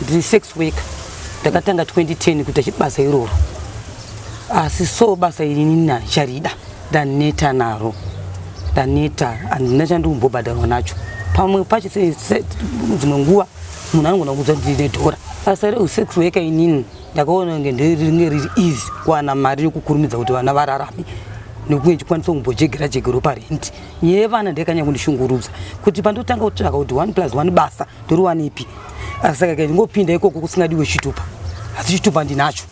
ndiri sex worker ndakatanga 2010 kuita chibasa iroro asi so basa iri nina charida ndaneta naro ndaneta handina chandikumbobhadharwa nacho pamwe pacho dzimwe nguva munhu anogona kuudza kuti ndine dhora basa reusex worker inini ndakaona kunge ndringe riri easy kuwana mari yokukurumidza kuti vana vararame nokunge ndichikwanisa kumbojegera jegero parenti nyaya yevana ndakanyanya kundishungurudza kuti pandotanga kutsvaka kuti one plus one basa ndoriwanepi asi saka kai ndingopinda ikoko kusingadiwe chitupa asi chitupa ndinacho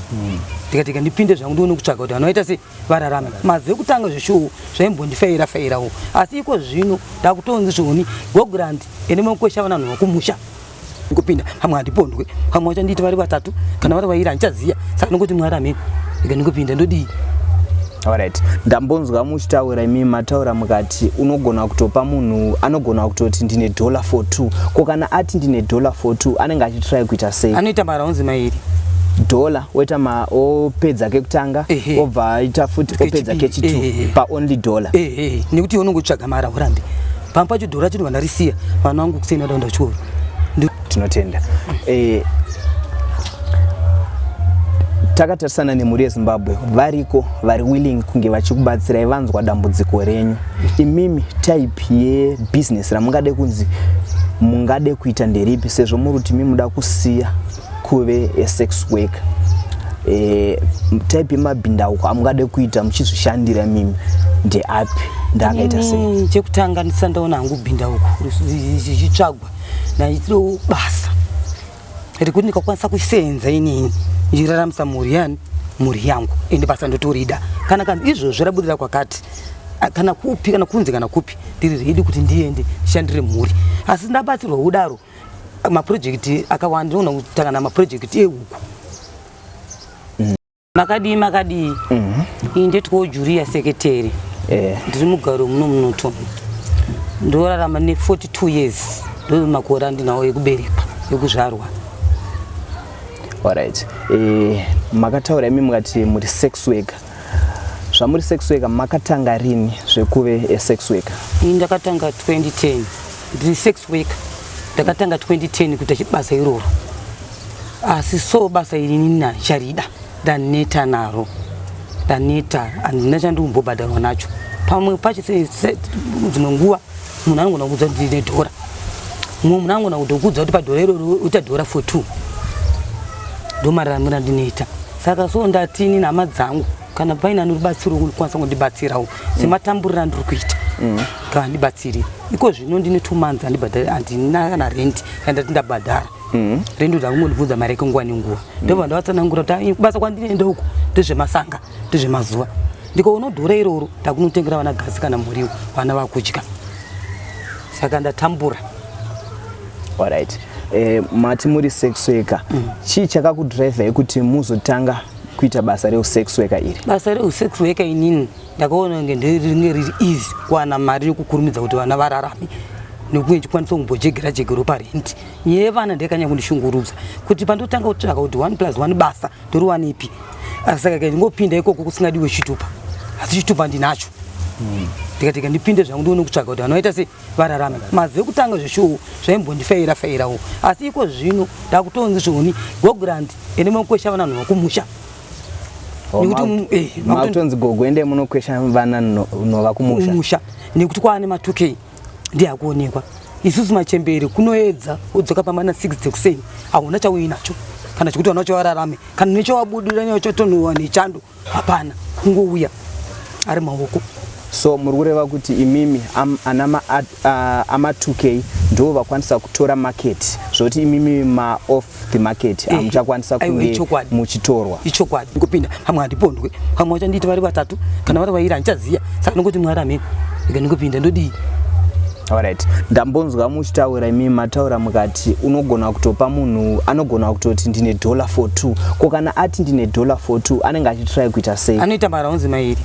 hmm. ndikatika ndipinde zvangu ndione kutsvaga kuti vanoita se vararame mazive kutanga zveshuwo zvaimbondifeira feirawo asi iko zvino ndakutonzi zvoni gogrand ene makwesha vananhu vakumusha kupinda hamwe handipondwe hamwe wacho ndiiti vari vatatu kana vari vairi handichaziya saka ndingokuti mwari amene ika ndingopinda ndodii Alright. Ndambonzwa muchitaura imi mataura mukati unogona kutopa munhu anogona kutoti ndine dollar for two. Ko kana ati ndine dollar for two anenge achitry kuita sei? Anoita maraunzi mairi. Dollar woita ma opedza kekutanga obva aita futi opedza kechitu pa only dollar. Eh eh nekuti unongotsvaga mara urambe. Pamwe pacho dollar chino vanarisiya vana wangu kuseni vadaenda kuchikoro. tinotenda eh, takatarisana nemhuri yezimbabwe variko vari willing kunge vachikubatsirai vanzwa dambudziko renyu imimi type yebusiness ramungade kunzi mungade kuita nderipi sezvo muri kuti mi muda kusiya kuve esex work e, eh, type yemabhindauko amungade kuita muchizvishandira mimi ndeapi ndaakaita sei chekutanga ndisandaona hangu bhindauko zvichitsvagwa naitiro basa rekuti ndikakwanisa kusenza inini ndichiraramisa mhuri yani mhuri yangu ende basa ndotorida kana kana izvozvo rabudira kwakati kana kupi kana kunze kana kupi ndiri redi kuti ndiende ndishandire mhuri asi ndabatsirwa kudaro maprojekti akawanda ndinoona kutangana maprojekti ehuku Makadii makadii? Mhm. Ini ndetwo Julia seketeri. Eh. Ndiri mugaro muno munoto. Ndorarama ne 42 years. Ndo makore andinawo ekuberekwa, ekuzvarwa. Alright. Eh, makataura imi mukati muri sex worker. Zvamuri sex worker makatanga rini zvekuve a sex worker? Ini ndakatanga 2010. Ndiri sex worker. Ndakatanga 2010 kuita chibasa iroro. asi so basa iri nini handicharida ndaneta naro ndaneta handina chandikumbobhadharwa nacho pamwe pacho dzimwe nguva munhu anogona kuudza kuti ndine dhora mumwe munhu anogona kutokuudza kuti padhora iroro uita dhora for two ndomararamira ndinoita saka so ndatini nhama dzangu kana paine anoribatsiro kukwanisa kundibatsirawo sematamburira andiri kuita mm. ngaandibatsiri iko zvino ndine two months andibhadhari handina kana rendi kandati ndabhadhara Mm. Rendo dzangu mundibvunza mari yake nguva nenguva mm. ndobva ndavatsanangura kuti kubasa kwandinoenda uku ndezvemasanga ndezvemazuva ndikaona dhora iroro takunotengera vana gasi kana muriwo vana vakudya saka ndatambura alright eh, mati muri sex worker mm. chii chakakudriver yekuti muzotanga kuita basa reusex worker iri basa reusex worker inini ndakaona kunge ndiringe riri easy kuwana mari yokukurumidza kuti vana vararame nekuti ndichikwanisa kumbojegera jegero parenti yevana ndekanya kundishungurudza kuti pandotanga kutsvaka kuti one plus one basa ndoriwana ipi saka ka ndingopinda ikoko kusingadiwe chitupa asi chitupa ndinacho hmm. ndikatika ndipinde zvangu ndione kutsvaga kuti vanoita se vararame mazive kutanga zveshuwo zvaimbondifeira feirawo asi iko zvino ndakutonzi zvoni gogrand ende makukwesha vana nhu vakumusha nekuti makutonzi gogo ende munokwesha vana nhu vakumusha nekuti kwaane matukei ndiye akuonekwa isusu machembere kunoedza udzoka pamana 6 dzekuseni hauna chauyi nacho kana chekuti vana chavararame kana nechawabudira nyaya chotonhuwa nechando hapana kungouya ari maoko so muri kureva kuti imimi ana amatukei ndo vakwanisa kutora market zvoti imimi maoff the market eh, hamuchakwanisa kunge muchitorwa ichokwadi ngopinda hamwe handipondwe hamwe vachandiiti vari vatatu kana vari vairi handichaziya saka ndongoti mwari amene ika ndingopinda ndodii Alright. Ndambonzwa muchitaura imi mataura mukati unogona kutopa munhu anogona kutoti ndine dollar for 2. Ko kana ati ndine dollar for 2 anenge achitry kuita sei? Anoita mara onzi mairi.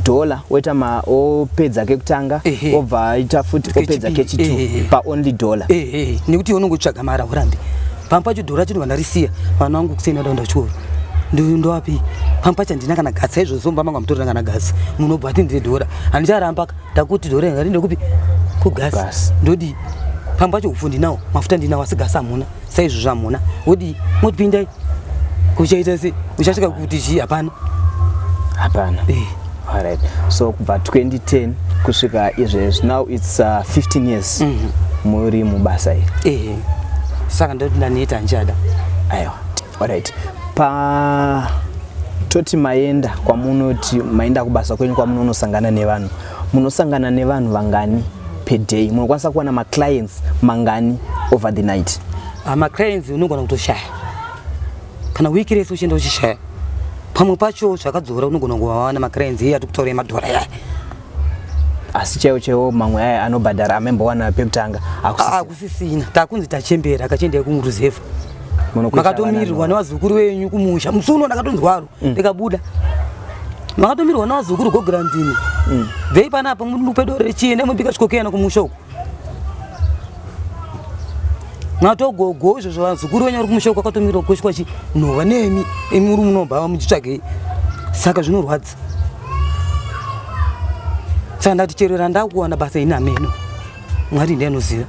Dollar woita ma opedza kekutanga obva aita futi opedza kechitu pa only dollar. Eh eh. Nekuti unongotsvaga Mara urambe. Pampa chidhora chino vana risiya. Vana wangu kusena ndaenda kuchikoro. Ndindo wapi? Pampa chandina kana gatsa izvo zomba manga mutorina kana gatsa. Munobva ati ndiri dhora. Handicharamba ka. Takuti dhora inga rinde kupi? Ku gas. Ndodi. Pampa cho ufundi nawo. Mafuta ndinawo asi gas amuna. Sai izvo zvamuna. Wodi motipindai. Kuchaita se. Uchasvika kuti chi hapana. Hapana. Eh. Alright. So kubva 2010 kusvika izvezvi now it's uh, 15 years mm -hmm. muri mubasa iri. Ehe. Saka ndoti ndaniita njada. Aiwa. Alright. Pa toti maenda kwamunoti maenda kubasa kwenyu kwamunonosangana nevanhu munosangana nevanhu vangani per day munokwanisa kuwana maclients mangani over the night ah, maclients unogona kutoshaya kana wiki rese uchienda uchishaya pamwe pacho zvakadzora unogona kuvawana macrains iye atikutaura emadhora yaya asi chaiwo chaiwo mamwe aya anobhadhara amembowana pekutanga akusisina takunzi tachembera akachiendai kumuruzevha makatomirirwa nevazukuru venyu kumusha musi uno ndakatonzwaro mm. ndikabuda makatomirirwa nevazukuru gograndini mm. vei panapa mupedo rechienda mubika chikokeyana kumusha uku natogogo izvo zvavazukuru venyu vari kumusha kwakatomira kukwesha kwachi nhova nemi imi uri munobhava muchitsvagei saka zvinorwadza saka ndati chero randakuwana basa ini ameno mwari ndiye anoziva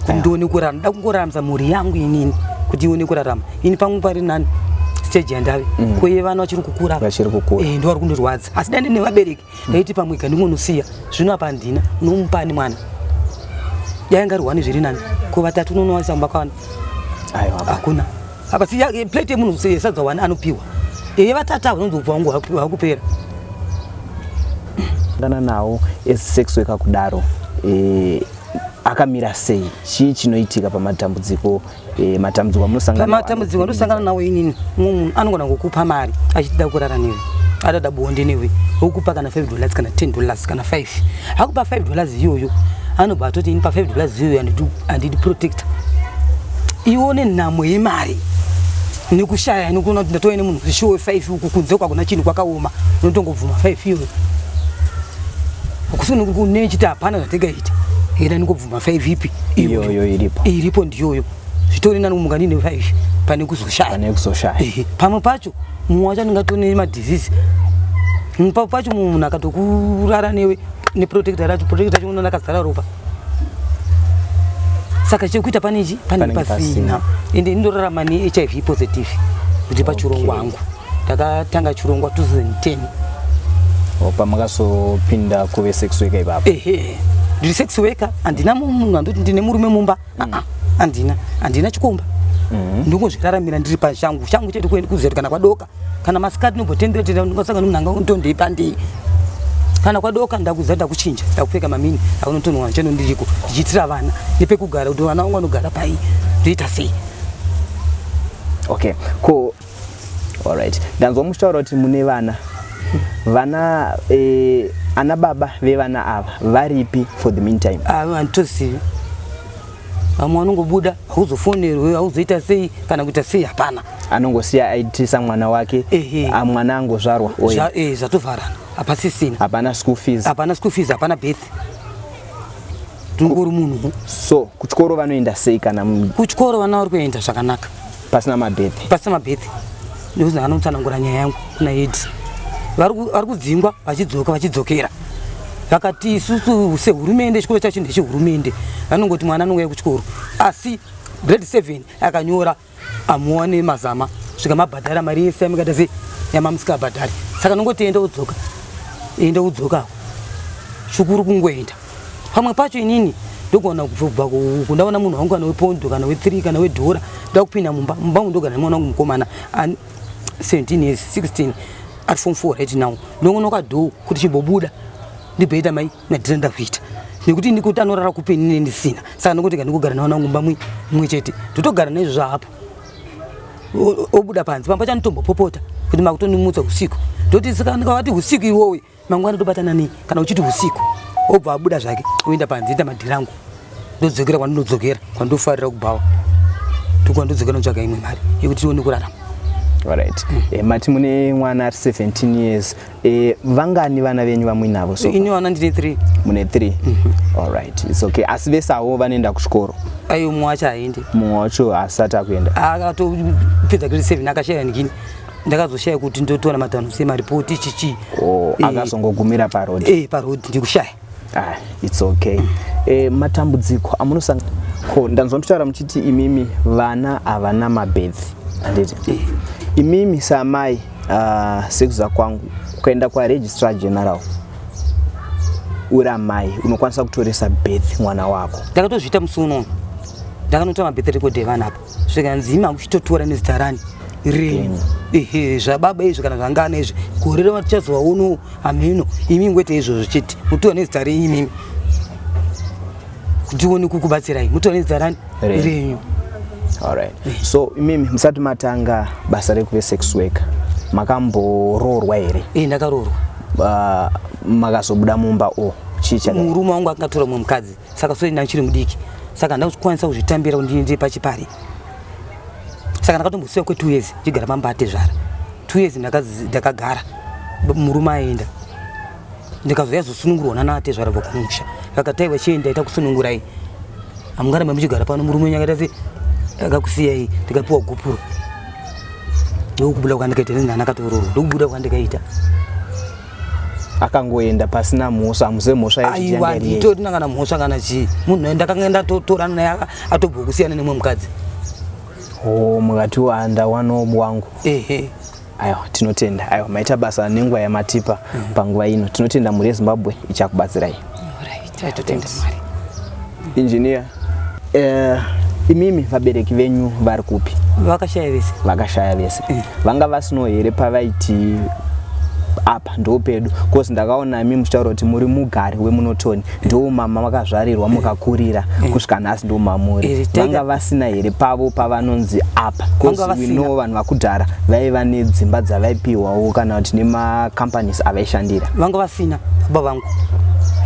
kuti ndione kurara nda kungoramza mhuri yangu inini kuti ione kurarama ini pangu pari nani stage yandave mm. koye vana vachiri kukura vachiri kukura eh, ndo vari kundirwadza asi dande nevabereki ndaiti pamwe ka ndingonosiya zvino apa handina unomupa ani mwana yainga rihwani zviri nani ko vatatu unonowaisa kumba kwavana hakuna apa si eh, plate yemunhu yesadza wani anopiwa eye vatatu avo unonzi ubva wangu wakupera ngana nawo esex weka kudaro eh, akamira sei chii chinoitika pamatambudziko Eh, matambudziko amunosangana nawo. Matambudziko anosangana nawo inini. Mumwe munhu anogona kukupa mari achitida kurara newe. Adada bonde newe. Okupa kana 5 dollars kana 10 dollars kana 5. Akupa 5 dollars iyoyo. Anobva atoti ini pa 5 dollars iyoyo andidi andidi protector. Ione nhamo yemari nekushaya nekuona kuti ndatove nemunhu zvishowe 5 uku kunze uku hakuna chinhu kwakaoma unotongobvuma 5 iyoyo kusi unenge une chiti hapana zvatingaita enda nikobvu mafaivi ipi iyoyo iripo iripo ndiyoyo zvitori nani kumuka ndine faivi pane kuzoshaya pane kuzoshaya pamwe pacho mumwe wacho anenge atone madhizizi mumwe pacho mumwe munhu akatokurara newe neprotecta racho protecta racho unoona akazara ropa saka chekuita pane chi pane pasina ende indorarama nehiv positive kuti pachurongwa hangu takatanga chirongwa 2010 pamakazopinda kuve sex worker ipapo ehe ndiri sex worker handina munhu andoti ndine murume mumba mm. handina handina chikomba mm. ndongozviraramira ndiri pachangu changu chete kuenda kuzeti kana kwadoka kana masikati nobotendera tenda ndingasanga nomnanga undondei pandei kana kwadoka ndakuza ndakuchinja ndakupfeka mamini akunotonwa cheno ndiriko ndichiitira vana nepekugara kuti vana vangu vanogara pai ndoita sei okay ko Alright. Ndanzwa muchitaura kuti mune vana. Vana eh, ana baba vevana ava varipi for the meantime? Ah, handitozivi. Vamwe vanongobuda hauzofonerwe hauzoita sei kana kuita sei hapana. Anongosiya aitisa mwana wake Ehe. ah, mwana angozvarwa oye. Zva- eh, Zvatovharana hapasisina. Hapana school fees. Hapana school fees hapana birth. Tungori munhu. So kuchikoro vanoenda sei kana mu- Kuchikoro vana vari kuenda zvakanaka. pasina mabhethi pasina mabhethi nekuti ndakanotsanangura nyaya yangu kuna ed vari kudzingwa vachidzoka vachidzokera vakati isusu sehurumende chikoro chacho ndechehurumende vanongoti mwana anouya kuchikoro asi grade seven akanyora amuone mazama svika mabhadhara mari yese yamikaita sei yamamusikabhadhari saka nongotienda udzoka enda udzoka shukuru kungoenda pamwe pacho inini ndogona kubva uku ndaona munhu wangu kana wepondo kana wethree kana wedhora ndakupinda mumba mumba mu ndogara nemwana wangu mukomana an 17 years 16 ari form four right now ndongono kadhoo kuti chimbobuda ndibhoita mai nadhira ndakuita nekuti ndikuti anorara kupi inini ndisina saka ndikuti kandikugara nemwana wangu mumba mumwe chete ndotogara naizvozvo hapo obuda panze pamba chanotombopopota kuti makutondimutsa usiku ndoti saka ndikavati usiku iwowe mangwana tobatana nei kana uchiti usiku obva abuda zvake oenda panze ita madhirangu ndodzokera kwandinodzokera kwandofarira kubhawa ndokwandodzokera ndotsvaga imwe mari yekuti tione kurarama right mm. e, mati mune mwana ari 17 years e, vangani vana venyu vamuinavo so ini vana ndine 3 mune 3 mm -hmm. all right it's okay asi vese avo vanoenda kuchikoro ayo mumwe wacho aende mumwe wacho asati akuenda akatopedza grade 7 akashaya nikini ndakazoshaya kuti ndotora matanho sei maripoti chichi oh, eh, akazongogumira parod e, eh, parod ndikushaya ah, its okay e, matambudziko amunosanga ko ndanzwa muchitaura muchiti imimi vana havana mabedhi anditi e. imimi saamai uh, ah, sekuza kwangu ukaenda kwaregistrar general uri amai unokwanisa kutoresa beth mwana wako ndakatozviita musi unono ndakanotora mabeth rekodevana apo zvikanzi ima kuchitotora nezita rani renyu ehe zvababa izvi kana zvangana izvi gore rema tichazowa uno hameno imi ngoite izvozvo chete mutora nezita renyu imimi kuti uone kukubatsirai mutora nezita rani renyu alright so imimi musati matanga basa rekuve sex worker makamboroorwa here e ndakaroorwa uh, makazobuda mumba o chii murume wangu akangatora mumwe mukadzi saka so ndanga chiri mudiki saka handina kukwanisa kuzvitambira kuti ndiende pachipari saka ndakatombosiya kwe two years ndichigara pamba atezvara two years ndakagara murume aenda ndikazouya zosunungurwa nana atezvara vokumusha vakatai vachienda ita kusunungurai amungaramba muchigara pano murume wenyu akaita se akakusiyai ndikapiwa gupuro ndokubuda kwandikaita nezina anakatoororo ndokubuda kwandikaita akangoenda pasina mhosva hamuze mhosva aiwa nditotina kana mhosva kana chii munhu aenda akanga ndatotorana naye atobva kusiyana nemwe mukadzi o oh, mukati wanda wanob wangu ehe aiwa tinotenda aiwa maita basa nenguva yamatipa mm. panguva ino tinotenda mhuri yezimbabwe ichakubatsirai right. Engineer. Eh, imimi vabereki venyu vari kupi? Vakashaya vese. Vakashaya vese. Eh. Vanga vasino here pavaiti apa ndo pedu cause ndakaona imi muchitaura kuti muri mugari wemunotoni ndo mama makazvarirwa mukakurira eh. kusvika nhasi ndo mamuri eh, vanga vasina here pavo pavanonzi apa causeino vanhu vakudhara vaiva nedzimba dzavaipiwawo kana kuti nemacompanies avaishandira vanga vasina baba vangu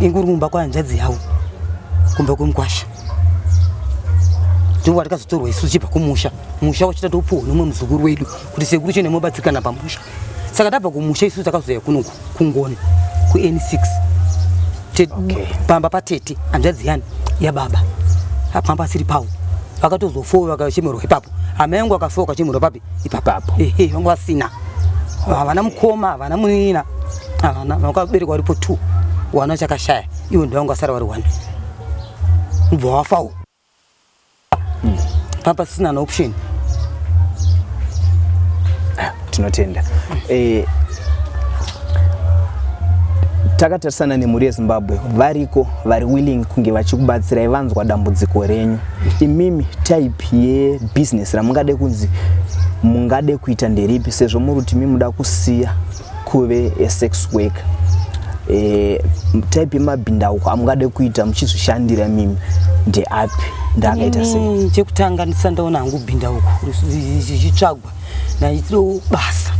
inguri kumba kwahanzvadzi yavo kumba kwemukwasha ndiwo watakazotorwa isu tichibva kumusha musha wachita topuwa nomwe muzukuru wedu kuti sekuru chene mobatsirikana pamusha saka tabva kumusha isu takazoya kuno kungoni kun6 okay. pamba patete hanzvadzi yani yababa pamba asiri pawo vakatozofowa vakachemerwa ipapo amai yangu akafowa kachemerwa papi ipapapo ehe vanga vasina havana mukoma havana munin'ina havana vakabereka varipo two wana chakashaya ivo ndivanga vasara vari one kubva wafawo hmm. papa sisina naoption ah, tinotenda eh, takatarisana nemhuri yezimbabwe variko vari willing kunge vachikubatsirai vanzwa dambudziko renyu imimi type yebusiness ramungade kunzi mungade kuita nderipi sezvo muri kuti mi muda kusiya kuve esex work e, eh, type yemabhindauko amungade kuita muchizvishandira mimi ndeapi ndaakaita sei chekutanga ndisandaona hangu bhindauko zvichitsvagwa naitoo basa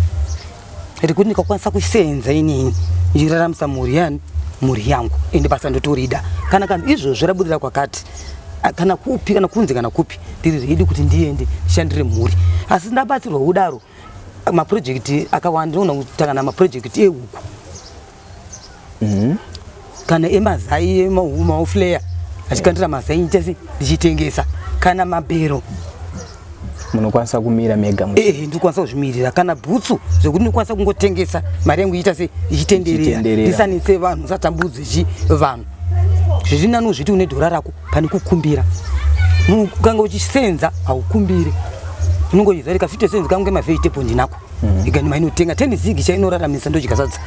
rekuti ndikakwanisa kusenza inini ndichiraramisa mhuri yani mhuri yangu ende basa ndotorida kana kana izvozvo rabudira kwakati kana kupi kana kunze kana kupi ndiri redi kuti ndiende ndishandire mhuri asi ndabatsirwa kudaro maprojekti akawanda ndinoona kutangana maprojekti ehuku Mhm. Mm kana emazai emaufleya achikandira mazai ndichese ndichitengesa kana mabhero munokwanisa kumira mega eh ndikwanisa kuzvimirira kana bhutsu zvekuti ndikwanisa kungotengesa mari yangu iita se ichitenderera ndisanitse vanhu satambudzi chi vanhu zviri nani uzviti une dhora rako pane kukumbira ukanga uchisenza haukumbire unongoiza rikafitosenza kangu ngemavegetable ndinako mm. ikani mainotenga ten zig chainoraramisa ndochikasadza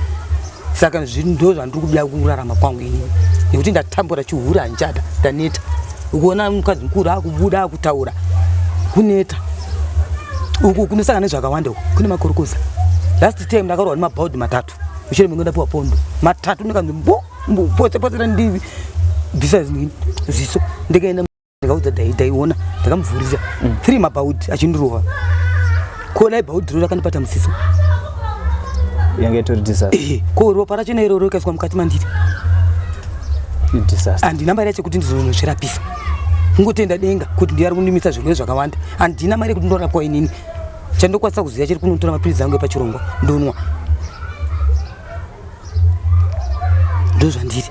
saka ndo zvandiri kuda kurarama kwangu ini nekuti ndatambura chihura handichada ndaneta ukuona mukadzi mukuru akubuda akutaura kuneta uku kunosangana nezvakawanda uku kune makorokoza last time ndakarohwa nemabhaudhi matatu mushure mengoenda piwa pondo matatu ndikanzi mbo mbo potse potse randibvisa ziso ndikaenda ndikaudza dai daiona ndakamuvhurira mm. three mabhaudhi achindirova ko dai bhaudhi ro rakandibata musiso yange itori disaster eh, ko ropa racho nairo rokaiswa mukati mandiri disaster handina mari yacho kuti ndizonozvirapisa kungotenda denga kuti ndiari kundimisa zvirwere zvakawanda handina mari yekuti ndorapwa inini chandokwanisa kuziva chiri kunotora mapiritsi angu epachirongwa ndonwa ndozvandiri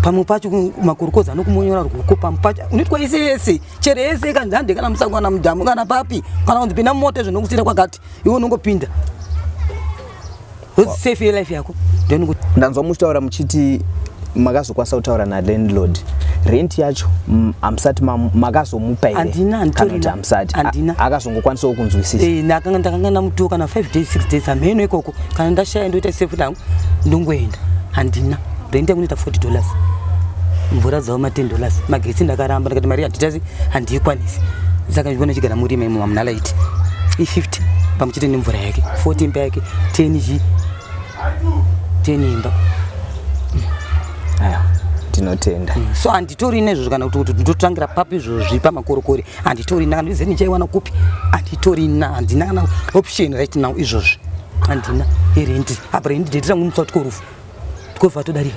pamwe pacho makurukoza anokumonyora ruoko pamwe pacho unoitwa yese yese chero yese kanzi hande kana musango kana mudhamu kana papi kana kunzi pinda mumota zvinokusira kwakati iwe unongopinda safe yelife yako ndanzwa muchitaura muchiti makazokwanisa kutaura nalandlord rent yacho mm, hamusati makazomupa hereamusati akazongokwanisawo kunzwisisandakanga eh, ndamutuwo kana 5 days 6 days hamheno ikoko kana ndashaya ndoita sefu langu ndongoenda handina rent yangu inoita 40 dollars mvura dzavo ma 10 dollars magetsi ndakaramba ndikati mari handitazi handiikwanisi saka ndivona chigara murima imo mamunalaiti i 50 pamwe chete nemvura yake 14 payake 10 zii tenimba aya tinotenda mm. so handitori nezvozvo kana kuti kuti ndotangira papi izvozvi pamakorokori handitori na ndize ndichaiwana kupi handitori na handina kana option right now izvozvi handina irendi apa rendi detirangu mutsa tikorufu tikova todarika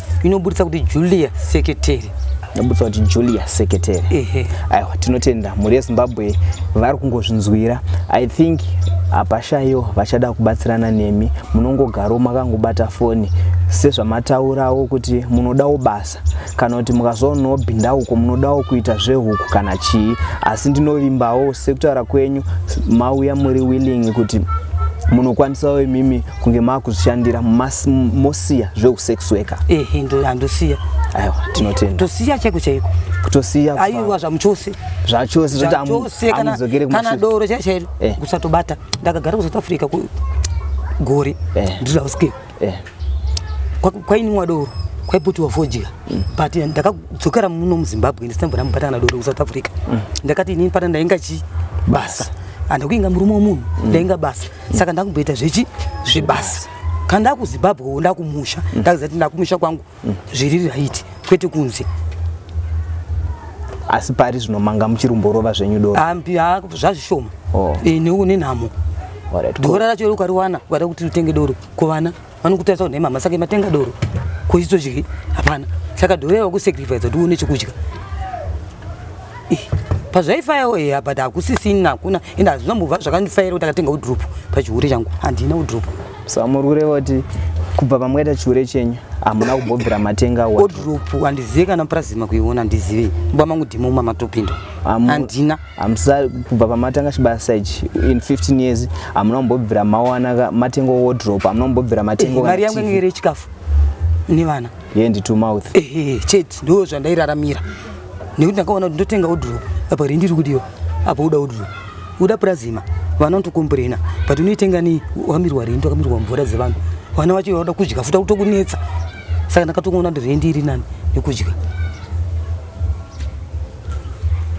inoburitsa kuti julia seketeri nobutsa kuti julia seketeri ehe aiwa tinotenda mhuri yezimbabwe vari kungozvinzwira i think hapashayiwo vachada kubatsirana nemi munongogarowo makangobata foni sezvamataurawo kuti munodawo basa kana kuti mukazoonawo bhinda uko munodawo kuita zvehuku kana chii asi ndinovimbawo sekutaura kwenyu mauya muri willing kuti munokwanisawo imimi kunge makuzvishandira mosiya zveusex worker ehe ndo handosiya aiwa tinotenda tosiya chaiko chaiko kutosiya aiwa zvamuchose zvachose zvoti amudzokere kumashure kana doro chaicho chairo eh. kusatobata ndakagara kusouth africa gore eh. ndizvauske eh. kwainimwa doro kwaiputiwa fodya mm. but ndakadzokera muno muzimbabwe ndisina mbona mubata kana doro kusouth africa mm. ndakati inini pana ndainga chi basa andakuinga murume womunhu mm. ndainga basa saka ndakumboita zvechi zvebasa kana ndakuzimbabwe wo ndakumusha mm. ndakuziva kuti ndakumusha kwangu mm. zviri raiti kwete kunze asi pari zvino manga muchirumborova zvenyu doro ambi ha zvazvishoma oh. e, eh, neunenhamo dora racho ukariwana ukada kuti utenge doro kuvana vanokutarisa kuti mama saka matenga doro ko isu tozvidyi hapana saka doro yava kusacrifice kuti uone chekudya pazvaifayawo eya but hakusisina hakuna ende hazvinambova zvakandifaira kuti akatenga udrop pachihure changu handina udrop so murwire voti kubva pamwaita chihure chenyu hamuna kubhobvira matenga odrop handizive kana prazima kuiona handizive mba mangu dhimo uma matopinda handina hamsa kubva pamatanga chibaya sage in 15 years hamuna kumbobvira mawana matengo wodrop hamuna kumbobvira matengo eh, mari yangu inge iri chikafu nevana yendi to mouth eh, eh, chete ndo zvandairaramira nekuti ndakaona kuti ndotenga wodrop apa rindi iri kudiwa apa uda wodrop uda prazima vana unotokomburena but unoitenga ni wakamirwa rindi wakamirwa mvura dzevanhu vana vacho vauda kudya futa kutokunetsa saka ndakatokuona ndi rendi iri nani yekudya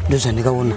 ndozvandikaona